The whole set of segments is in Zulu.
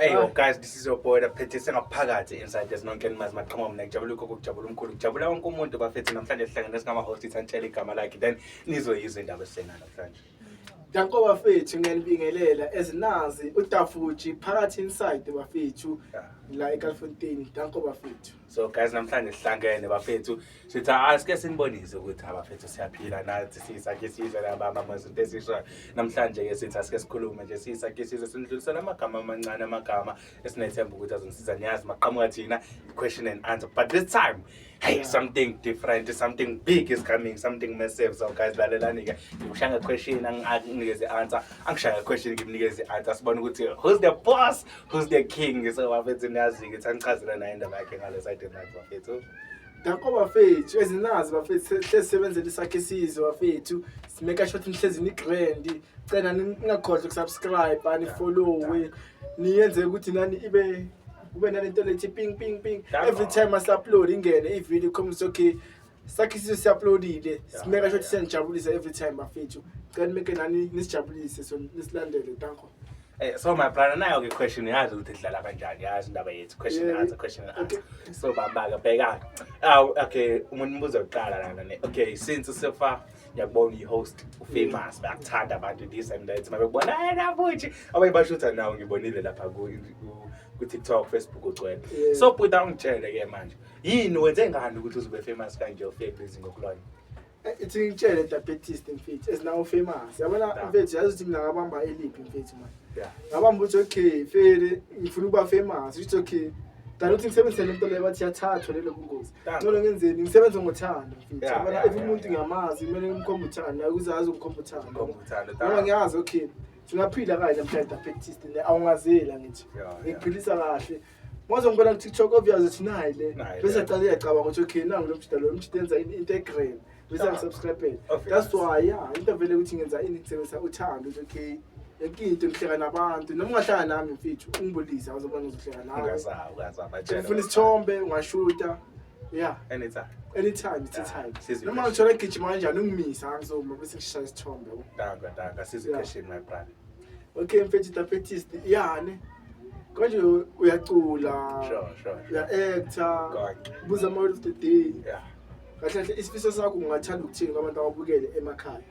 Hey yo guys, this is your boy Daphethe sengaphakathi inside there's no Ken Mas maqhama mina ngijabula ukho kujabula umkhulu kujabula wonke umuntu bafethu namhlanje sihlangene singama host ithantshela igama lakhe then nizoyizwa indaba esena namhlanje. Danko bafethu ngiyanibingelela ezinazi utafuji phakathi inside bafethu la eKalfontein danko bafethu so guys namhlanje sihlangene bafethu sithi asike sinibonise ukuthi abafethu siyaphila nathi sisakhe sizwe lababa mazinto esisho namhlanje ke sithi asike sikhulume nje sisakhe sizwe sinidlulisela amagama amancane amagama esinethemba ukuthi azongisiza niyazi maqhamuka thina question and answer but this time hey something different something big is coming something massive so guys lalelani-ke ngikushaya question anginikeze answer angishaya question ngimnikeze answer sibone ukuthi who's the boss who's the king so bafethu niyazi-ke sangichazela naye indaba yakhe ngale side enakho bafethu danko bafethu ezinazi bafethu hlezi sebenzela isakhe isizwe bafethu simeka shot nihlezi ni-grand cela ningakhohlwa ukusubscribe anifollowe niyenze ukuthi nani ibe kube nalento lethi ping ping ping every time asi-upload ingene ivideo ikhombisa okay sakhe isizwe si-uploadile simeka sho ukuthi siyanijabulisa every time bafethu cela nimeke nani nisijabulise so nisilandele danko Eh, so my brother nayo ke question yazi ukuthi idlala kanjani yazi indaba yethu question Yeah. answer question Okay. answer so bambaka bheka aw okay umuntu mbuzo uqala lana ne okay since sefa ngiyakubona uyi-host ufamous bayakuthanda abantu this and that mabekubona hayi nabuthi abanye bashutha nawo ngibonile lapha ku-tiktok facebook ugcwele so bhuta ungitshele-ke manje yini wenze ngani ukuthi uzobe famous kanje ufebhizi ngokulona eh, ithi ngitshele diabetes mfethu ezinawo famous yabona mfethu yazi ukuthi mina ngabamba eliphi mfethu manje ngabamba ukuthi okay fele ngifuna ukuba famous ukuthi okay Dala uthi ngisebenzise le nto leyo bathi yathathwa lelo bungozi. Dala. Ngcono ngenzeni? Ngisebenze ngothando. mfethu. Yeah, Yabona, yeah, if yeah, umuntu yeah. ngiyamazi kumele ngimkhombe uthando, hayi ukuze azi ukumkhomba uthando. Ngomba uthando, Noma dala. ngiyazi okay. Singaphila kahle mhla diabetes le awungazela ngithi. Yeah, yeah. Ngiphilisa kahle. Mwazo ngibona ku TikTok obvious ukuthi nayi le. Nayi le. Bese aqale yacabanga ukuthi okay nangu lo mjita lo mjita enza in- integral. bese angisubscribele that's why ya into vele ukuthi ngenza ini kusebenzisa uthando ukuthi okay yonke into ngihleka nabantu noma ungahlanga nami mfethu ungibulise awuzobona ngizohleka nawe Ungaza- ungaza amajele. ufuna isithombe ungashuta ya Anytime. anytime it's a time Sizi- noma ngithola gijima kanjani ungimisa angizoma bese ngishaya isithombe yabo. Daka, daka, sizi Yeah. question, my brother. okay mfethu tapetist yani konje u- uyacula Sure, sure, sure. uya-actor Konke. buza ama-word of the day Yeah. kahle kahle isifiso sakho ungathanda ukuthini kwabantu ababukele emakhaya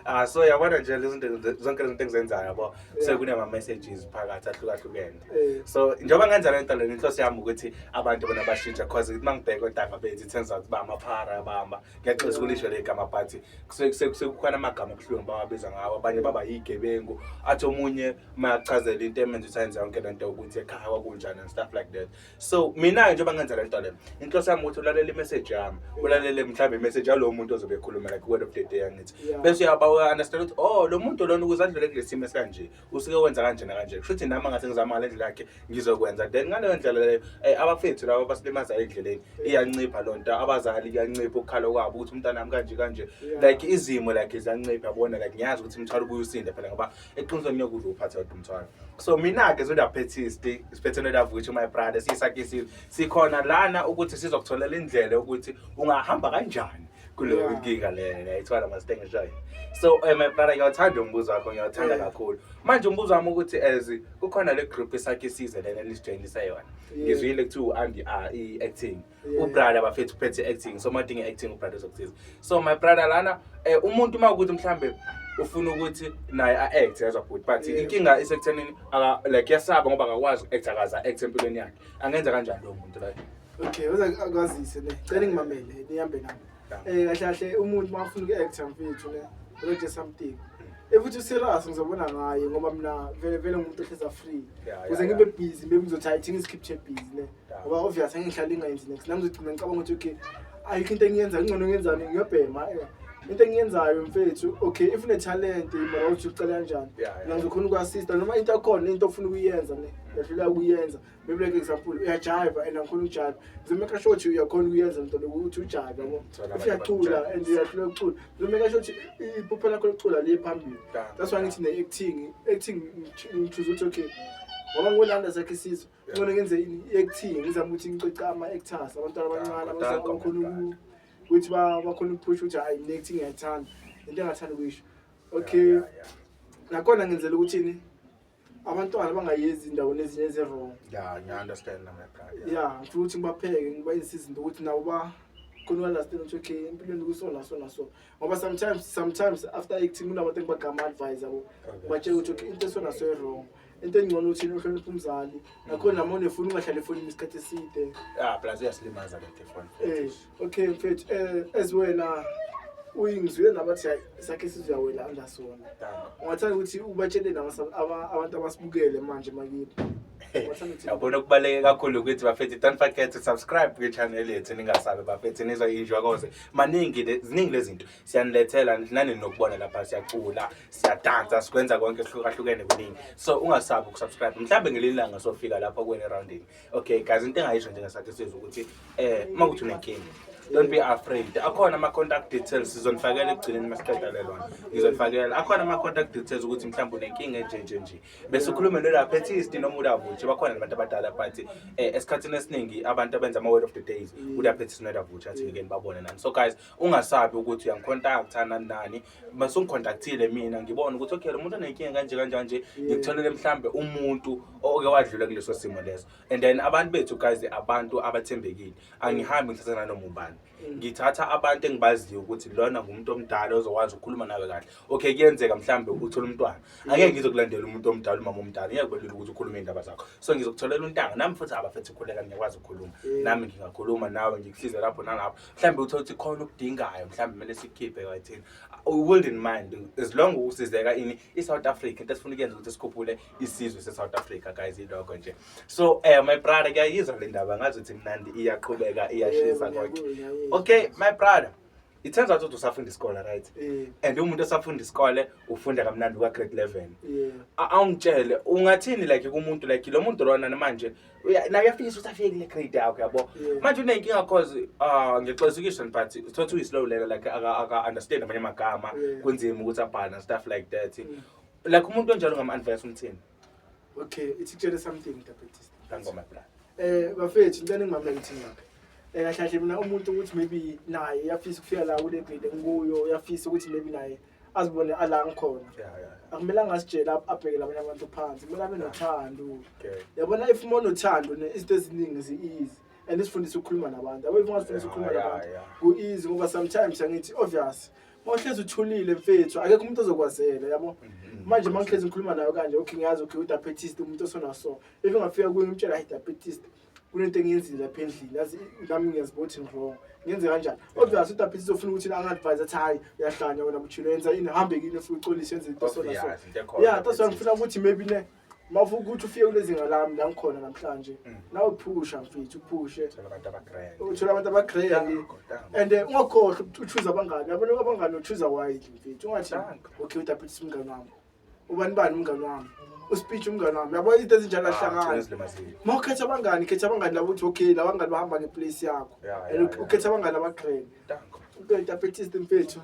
Ah so yabona nje lezi zinto ze- zonke lezi zinto engizenzayo yabo Yeah. sekunama messages phakathi ahlukahlukene Eh. so njengoba ngenza le nto lena inhloso yami ukuthi abantu bona bashintshe cause uma ngibheka odaka bethu it turns out uba amaphara abamba ngiyaxolisa ukulisho le gama but kuse- kuse- kuse- kukhona amagama abuhlungu bawabiza ngawo abanye baba yigebengu athi omunye mayachazela into emenza ukuthi ayenze yonke le nto ukuthi ekhaya kwakunjani and stuff like that so mina-ke njengoba ngenza le nto le inhloso yami ukuthi ulalela imessage yami ulalele mhlawumbe imessage yalowo muntu ozobe ekhuluma like word of the day angithi bese uyaba-understand ukuthi oh lo muntu lona ukuze adlule kule simo esikanje usuke wenza kanje nakanje kusho ukuthi nami angase ngizama ngale ndlela yakhe ngizokwenza then ngaleyo ndlela leyo um abafethu labo basilimazayo endleleni iyancipha loo nto abazali kuyancipha ukukhala kwabo ukuthi umntanami kanje kanje like izimo like ziyancipha yabona like ngiyazi ukuthi mthwalo ubuye usinde phela ngoba eqinisweni ngeke udle uphathe kodwa umthwalo so mina-ke zodaphethisti isiphethelwe lavuthi my brother siyisakhe isizwe sikhona lana ukuthi sizokutholela indlela yokuthi ungahamba kanjani kuleyo nkinga lena ngiyayithwala masitenge shayo so um my brother ngiyawuthanda umbuzo wakho ngiyawuthanda kakhulu manje umbuzo wami ukuthi as kukhona le group esakhe isizwe lena elisijayinisa yona ngizwile kuthiwa u-andi i-acting ubrother bafethu uphethe i-acting so madinga i-acting ubrother uzokusiza so my brother lana eh, umuntu uma ukuthi mhlawumbe ufuna ukuthi naye a-act yezwa bhuti but Yeah. inkinga isekuthenini aka- like yasaba ngoba akakwazi uku-act akaze a-act empilweni yakhe angenza kanjani lowo muntu like okay uze akwazise ne cela ngimamele nihambe nami eh kahle kahle umuntu mafuna uku-actor mfethu ne uzoje something efuthi userious ngizobona ngaye ngoba mina vele vele ngumuntu ohleza free Yeah, yeah, kuze ngibe yeah. busy maybe ngizothi hayi thina isikhiphe busy ne ngoba obvious angihlali ingayenzi next nami ngigcina ngicabanga ukuthi okay ayikho into engiyenza ngcono ngiyenzani ngiyobhema eh, into engiyenzayo mfethu okay if unetalent mara uthi ucela kanjani Yeah, yeah. nangizokhona uku-assista noma into akhona into ofuna ukuyenza ne yahlula ukuyenza maybe like example uyajiva and angikhona ukujiva ngizomeka sure ukuthi uyakhona ukuyenza mntwana ukuthi ujive yabo Thola if abantu uyacula abajabulisa. and uyahlula ukucula ngizomeka sure ukuthi iphupho lakho lokucula liye phambili Yeah. that's why ngithi ne-acting acting ngithuza ukuthi okay ngoba ngolanda sakhe isizwe ngcono ngenze i-acting ngizama ukuthi ngicoce ama-actors abantwana abancane abakhona ukuthi bakhona ukuphusha ukuthi hhayi mina acting ngiyayithanda into engathanda ukuyisho okay nakhona ngenzela ukuthini abantwana bangayezi indaweni ezinye ezi-wrong ya ngiya-understand ya ngifuna ukuthi ngibapheke ngibayinsizi into ukuthi nabo ba khona uyalasitela ukuthi okay empilweni kusona sona so ngoba sometimes sometimes after acting kunabantu engibagrama advise yabo batshela ukuthi okay into esona so e-wrong okay. into engcono uthini uhlonipha umzali nakhona noma unefoni ungahlali efonini isikhathi eside ah plus uyasilimaza le telefoni eh okay mfethu eh as wena uyingizwile nabathi hayi sakhe isizwe yawela andasona ungathanda ukuthi ubatshele abantu abasibukele manje makithi yabona okubaluleke kakhulu ukuthi bafethu don't forget to subscribe kwi-channel yethu ningasabi bafethu nizwa injwa koze maningi ziningi lezinto siyanilethela nani nokubona lapha siyacula siyadansa sikwenza konke kuhlukahlukene kuningi so ungasabi ukusubscribe mhlawumbe ngelinye ilanga sofika lapho kuwena erowundini okay guys into engayisho njengesathi sizwe ukuthi eh uma kuthi unenkinga don't be afraid akhona ama-contact details sizonifakela ekugcineni uma siqeda lelona ngizonifakela akhona ama-contact details ukuthi mhlawumbe unenkinga enjenje nje bese ukhulume nolaphethisti noma ulavutshe bakhona nabantu abadala but um esikhathini esiningi abantu abenza ama-word of the days ulaphethisti nolabvutshe athi ngikeni babone nani so guys ungasabi ukuthi uyangikhontaktha nani nani mase ungikhontakthile mina ngibone ukuthi okay lo muntu onenkinga kanje kanjani nje ngikutholele mhlawumbe umuntu oke wadlula kuleso simo leso and then abantu bethu guys abantu abathembekile angihambi ngithatha nanoma ubani ngithatha abantu engibaziyo ukuthi lona ngumuntu omdala ozokwazi ukukhuluma nawe kahle okay kuyenzeka mhlawumbe uthole umntwana angeke ngizokulandela umuntu omdala umama omdala ngeke kubelula ukuthi ukhulume iy'ndaba zakho so ngizokutholela untanga nami futhi abafethu ukhuleka ngiyakwazi ukukhuluma nami ngingakhuluma nawe ngikusize lapho nalapho mhlawumbe uthole ukuthi khona okudingayo mhlawumbe kumele sikhiphe kayithini world in mind as long usizeka ini i-south africa into esifuna ukuyenza ukuthi sikhuphule isizwe se-south africa guys iloko nje so um my brother kuyayizwa le ndaba ngazi ukuthi mnandi iyaqhubeka iyashisa konke okay my brother it turns out ukuthi usafunda isikole right yeah. and umuntu osafunda isikole ufunda kamnandi kwa-grade eleven yeah. awungitshele ungathini like kumuntu like lo muntu lona manje nayo uyafinyisa ukuthi afike kule grade yakho yabo manje unenkinga cause uh, ngexesikisho but uthothi uyi-slow learner like aka-understand amanye amagama kunzima ukuthi abhale na stuff like that mm. like umuntu onjalo ngam-advise umthini okay ithi kutshele something dabetist ngangoma bra eh bafethu ngicela ngimamela ngithini lapha eh kahle kahle mina umuntu ukuthi maybe naye uyafisa ukufika la kule grade engikuyo uyafisa ukuthi maybe naye azibone ala ngikhona akumelanga asitshele abhekele abanye abantu phansi kumele abe nothando yabona if uma unothando izinto eziningi zi-easy and isifundisa ukukhuluma nabantu abe ungazifundisa ukukhuluma nabantu ku-easy ngoba sometimes angithi obvious mawuhlezi uthulile mfethu akekho umuntu ozokwazela yabo mm-hmm. manje mangihlezi ngikhuluma nayo kanje okay ngiyazi okay udiabetist umuntu osonaso if ngafika kuye ngimtshela hi-diabetist kunento engiyenzile lapha endlini yazi nami ngiyazibothi wrong ngenze kanjani obvious ukuthi lapha sizofuna ukuthi angadvise athi hayi uyahlanya wena buchilo yenza ini hambe kini futhi uxolise yenze into so naso yeah that's why ngifuna ukuthi maybe ne mafu ukuthi ufike kulezinga lami la ngikhona namhlanje mm. nawe phusha mfethu uphushe uthola abantu abagrand uthola abantu abagrand and eh, ungakhohlwa ukuthi uchuza abangani abantu abangani uchuza wide mfethu ungathi okay udapha ukuthi simngani wami ubani bani umngane wami uspeech umngane wami yabo izinto ezinjalo ahlangani ma ukhetha abangani khetha abangani labo ukuthi okay lawa ngani bahamba ngeplace yakho and ukhetha abangani abaqhele impethu apetist impethu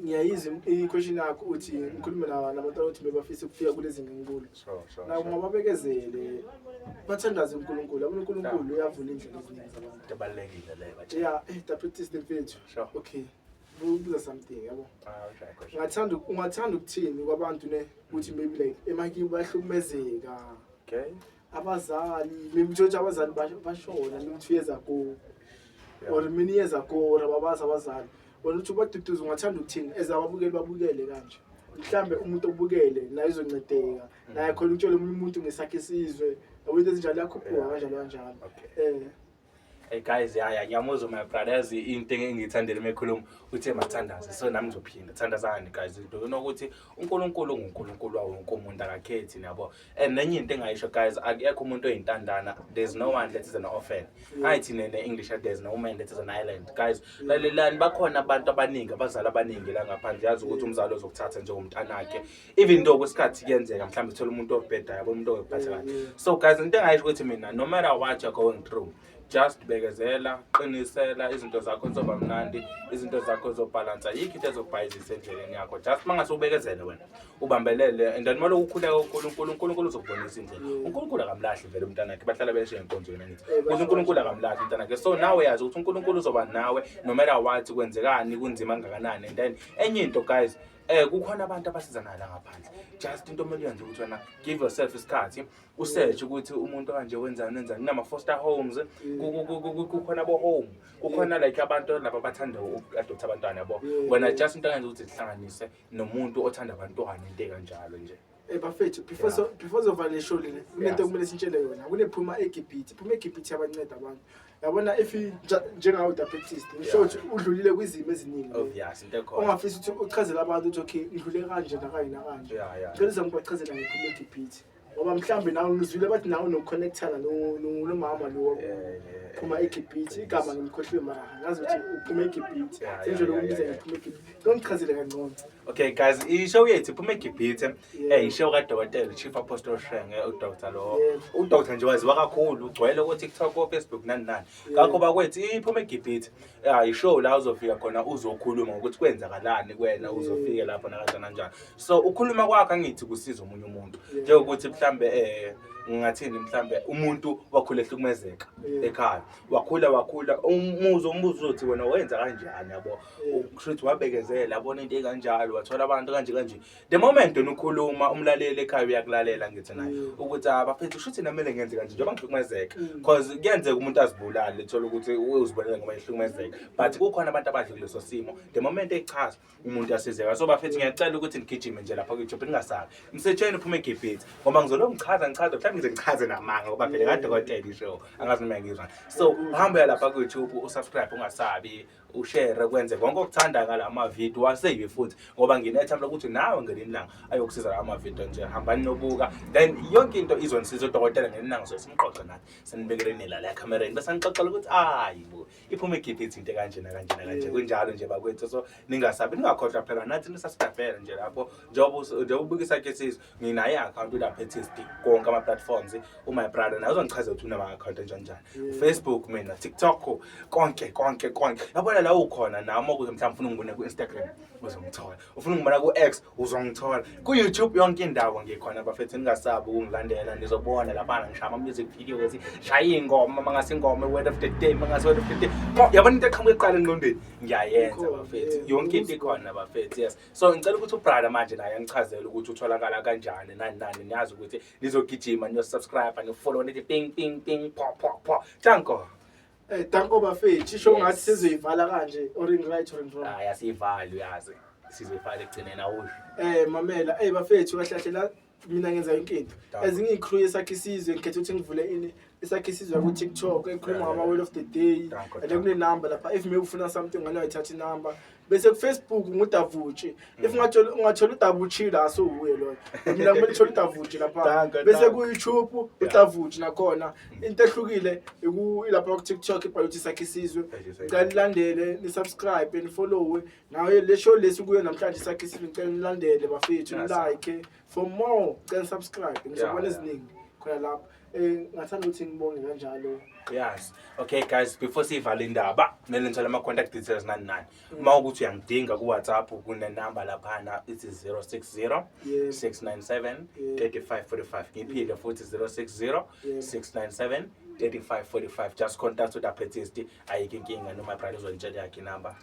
ngiyayizwa i-question yakho uthi ngikhulume nabantu abathi bebafisa ukufika kulezi nginkulu nabo mababekezele bathandaze unkulunkulu yabona unkulunkulu uyavula indlela eziningi zabantu ya eh, apetist impethu okay Ngibuza something yabo. Ah, okay, question. Ungathanda ungathanda ukuthini kwabantu ne ukuthi maybe like emakiwe bayahlukumezeka. Okay. Abazali, maybe uthole ukuthi abazali bash- bashona maybe two years ago Yeah. or many years ago or ababazi abazali. Wena uthi ubaduduza ungathanda ukuthini as ababukeli babukele kanje. Mhlambe umuntu obukele naye uzoncedeka. Naye khona ukutshela omunye umuntu ngesakhe isizwe. Yabo into ezinjalo yakhuphuka Yeah. kanjalo kanjalo. Okay. Eh. Hey guys, ya ya ngiyamuzwa my brother yazi into engiyithandela mekhuluma uthe mathandaze. So nami ngizophinda thandazani guys. Into yokuthi uNkulunkulu nguNkulunkulu wawo wonke umuntu akakhethi niyabo. And nenye into engayisho guys, akekho umuntu oyintandana. There's no one that is an orphan. Ayithi nene English there's no man that is an island. Guys, lalelani bakhona abantu abaningi, abazali abaningi la ngaphandle yazi ukuthi umzali ozokuthatha njengomntanakhe. even though kwesikhathi kuyenzeka mhlawumbe thola umuntu obheda yabo umuntu okuphatha kahle mm. so guys into engayisho ukuthi mina no matter what you're going through just bekezela qinisela izinto zakho zoba mnandi izinto zakho zobhalansa yikho into ezokubhayizisa endleleni yakho just uma ngase ubekezele wena ubambelele and then maloku ukhuleka unkulunkulu unkulunkulu uzokubonisa indlela mm. unkulunkulu akamlahli vele umntanakhe bahlala beshe enkonzweni angithi eh, kuthi unkulunkulu akamlahli umntanakhe so nawe yazi ukuthi unkulunkulu uzoba nawe no matter what kwenzekani kunzima kangakanani and then enye into guys Eh kukhona abantu abasizanayo la ngaphandle. Just into omele uyenze ukuthi wena give yourself isikhathi usearch ukuthi umuntu kanje wenzani wenzani nama foster homes ku- ku- ku- ku- kukhona bo home kukhona like abantu laba abathanda uadoptha abantwana yabo. Wena just into engenza ukuthi zihlanganise nomuntu othanda abantwana into kanjalo nje. Eh bafethu before so before zova le show lena kunento kumele sintshele yona kunephuma eGibhithe phuma eGibhithe yabanceda abantu yabona if i- nja- njengawe udapetist ngisho ukuthi udlulile kwizimo eziningi Oh, yes, into ekhona. ongafisa ukuthi uchazele abantu ukuthi okay ngidlule kanje nakanye nakanje Yeah, yeah. cela uzame ubachazela ngephuma eGibhithe ngoba mhlawumbe nawe ngizwile bathi nawe nokuconnectana no- no- nomama lo Yeah, yeah, yeah. phuma eGibhithe igama ngimkhohliwe mara ngazi ukuthi uphuma eGibhithe Yeah, senjalo yeah, yeah, ukumbiza yeah, ngephuma eGibhithe ngichazele kangcono Okay guys, ishow yethu iphuma eGibhithe. Eh ishow kaDokotela Chief Apostle Shenge uDr lo. UDr nje waziwa kakhulu ugcwele ku TikTok ku Facebook nani nani. Ngakho bakwethu iphuma eGibhithe. Ah ishow la uzofika khona uzokhuluma ukuthi kwenzakalani kuwena uzofike lapho nakanje kanjani. So ukhuluma kwakhe angithi kusiza umunye umuntu. Njengokuthi mhlambe eh ngingathini mhlambe umuntu wakhula ehlukumezeka ekhaya wakhula wakhula umuzo umbuzo uzothi wena wenza kanjani yabo ukushuthi wabekezela abona into ekanjalo wathola abantu kanje kanje the moment wena ukhuluma umlaleli ekhaya uyakulalela ngithi naye mm. ukuthi abafethu ah, shuthi namele ngenze kanje njengoba ngihlukumezeka mm. cause kuyenzeka umuntu azibulale thola ukuthi uzibulele ngoba ehlukumezeka but kukhona abantu abadle kuleso simo the moment echaza umuntu asizeka so bafethu ngiyacela ukuthi nigijime nje lapha kuyithobe ningasabi msethweni uphume egibhithi ngoba ngizolo ngichaza ngichaza mhlawumbe ngize ngichaze namanga ngoba phela kadokotela isho angazi noma ngizwa so hamba lapha kuyithobe usubscribe ungasabi ushere kwenze konke okuthanda ngala mavidiyo waseyibi futhi ngoba nginethemba lokuthi nawe ngelinye ilanga ayokusiza la mavidiyo nje hambani nobuka then yonke into izonisiza udokotela ngelinye ilanga soye simqoqe nathi senibekele nila la ekhamereni bese anixoxela ukuthi ayi bo iphume ikhiphe ithinte kanjena kanjena kanje kunjalo nje bakwethu so ningasabi ningakhohlwa phela nathi nisasitafele nje lapho njengoba ubukisa ke sizwe nginayo i-akhawunti unaphethist konke ama-platforms u-my oh brother naye uzongichazela ukuthi unama-akhawunti enjani njani ufacebook mina tiktok konke konke konke yabona la ukhona nami okuze mhlawumbe ufuna ungibona ku-instagram uzongithola ufuna ungibona ku-x uzongithola ku-youtube yonke indawo ngikhona bafethu ningasabi ukungilandela nizobona labana ngishaya ama-music videos shaya iy'ngoma mangase ingoma word of the day mangase word of the day yabona into eqhamuka eqala enqondweni ngiyayenza bafethu yonke into ikhona bafethu yes so ngicela ukuthi ubrother manje naye angichazele ukuthi utholakala kanjani nani nani niyazi ukuthi nizogijima niyosubscribe nifollow nithi ping ping ping pho pho pho tanko Eh danko bafethu shisho Yes. ngathi sizoyivala kanje or in right or in wrong. hayi asiyivali uyazi sizoyifaka ekugcineni awusho Eh mamela eh bafethu kahlahlela mina ngenza yonke into as ngiyicrew yesakhe isizwe ngikhetha ukuthi ngivule ini esakhe isizwe ku-tiktok ekhuluma ngama-word of the day and kunenumber lapha if maybe ufuna something ngane wayithatha inumber bese kufacebook ngudavutshi mm. if ungathola udavutshi la sowuye loyo mina kumele thole udavutshi lapha bese kuyoutube udavutshi nakhona mm. into ehlukile ilapha ku-tiktok ibhaluthi sakhe isizwe canilandele nisubscribe nifollowe nayo le show lesi kuyo namhlanje sakhe sifike ngicela nilandele bafethu Yes, sir. like for more cela subscribe ngizobona yeah. eziningi khona lapho eh ngathanda ukuthi ngibonge kanjalo yes okay guys before siyivale indaba kumele ngithole ama-contact details nani nani uma ukuthi uyangidinga ku-whatsapp kunenamba laphana ithi 060 Yebo. 697 Yebo. 3545 ngiphinde futhi 060 Yebo. 697 3545 just contact udaphethisti ayike inkinga noma bride uzonitshela yakhe inamba